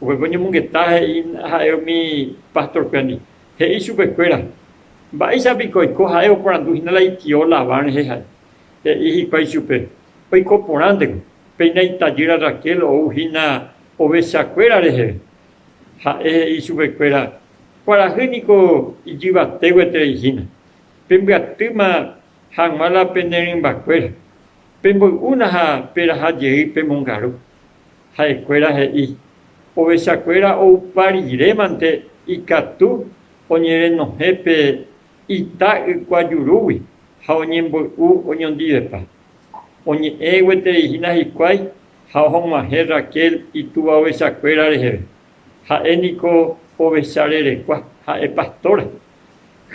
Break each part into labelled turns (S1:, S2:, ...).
S1: Upépe oñomongeta he'i ha'e umi pastorkuéndi, he'i chupekuéra, Mba'éicha piko oiko ha'e oporandu hína la itio Labán rehe ha'e? He'i hikuái chupe, Oiko porãnteko, péina itajýra Raquel ou hína ovechakuéra reheve. Ha'e he'i chupekuéra, Kuarahy niko ijyvate gueterei hína. Pembyatýma hag̃ua la pene rymbakuéra, pemboy'úna ha peraha jey pe mongaru. Ha'ekuéra he'i, Ovechakuéra oupa rire mante ikatu oñerenohẽ pe ita ykuajurúgui ha oñemboy'u oñondivepa. Oñe'ẽ gueteri hína hikuái ha ohog̃uahẽ Raquel itúva ovechakuéra reheve. Ha'e niko ovecha rerekua, ha'e pastora.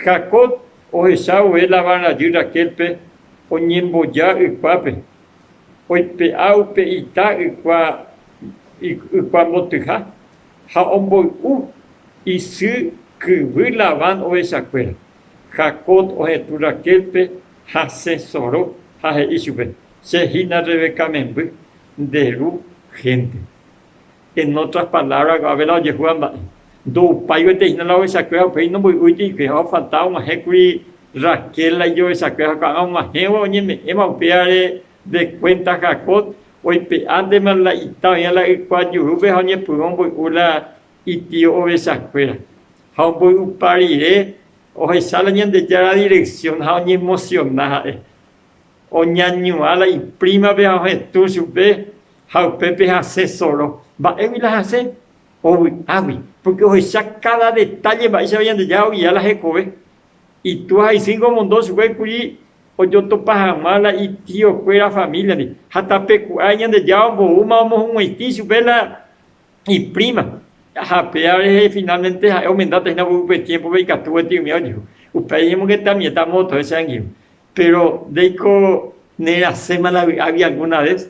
S1: Jacob ohecha vove Labán rajy Raquélpe oñemboja ykuápe oipe'a upe ita ykua ykua mbotyha ha omboy'u isy kyvy Labán ovechakuéra. Jacob ohetũ Raquélpe ha sẽsoro ha he'i chupe, Che hína Rebeca memby, nde ru hénte. En otras palabras, ko'ã vela ojehúva mba'e, ndoupáivante hína la ovechakue ha upéi nomboy'úiti hikuái ha ofalta og̃uahẽ kuri Raquel la ijovechakue ha ko'ã og̃uahẽva oñeme'ẽva upévare de cuenta Jacob oipe'ántema la ita oĩva la ykuajurúpe ha oñepyrũ omboy'u la itío ovechakuéra ha omboy'upa rire ohecha la Ñandejára dirección ha oñemociona ha'e Oñañuã la iprímape ha ohetũ chupe ha upépe hasẽ soro. Mba'égui la hasẽ? Ovy'águi, pórke ohecha káda detálle mba'éichapa Ñandejára ogia la hekove. Itúa ha isy ningo omondo chupe kuri ojotopa hag̃ua la itiokuéra famíliandi, ha tape ku'áre Ñandejára omboúma omohuguãitĩ chupe la ipríma. Ha péva rehe finálmente ha'e omendáta hína upépe tiémpope ikatu gotyo umi ojehu. Upéi oñemongetamieta moõtove che angirũ. Péro ndéiko nerasẽma la vy'águi algúna ves.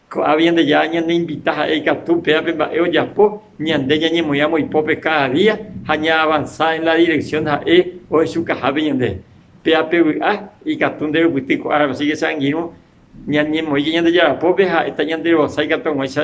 S1: Ko'ã Ñandejára ñaneinvita ha'e ikatu upéva pe mba'e ojapo, ñande ñañemoĩramo ipópe káda día ha ñaavansa en la direksión ha'e ohechukahápe ñande. Péva pe vy'a, ikatu nderupyty ko árape, asíke che angirũ ñañemoĩke Ñandejára pópe ha ha'éta ñanderovasa ikatu hag̃uáicha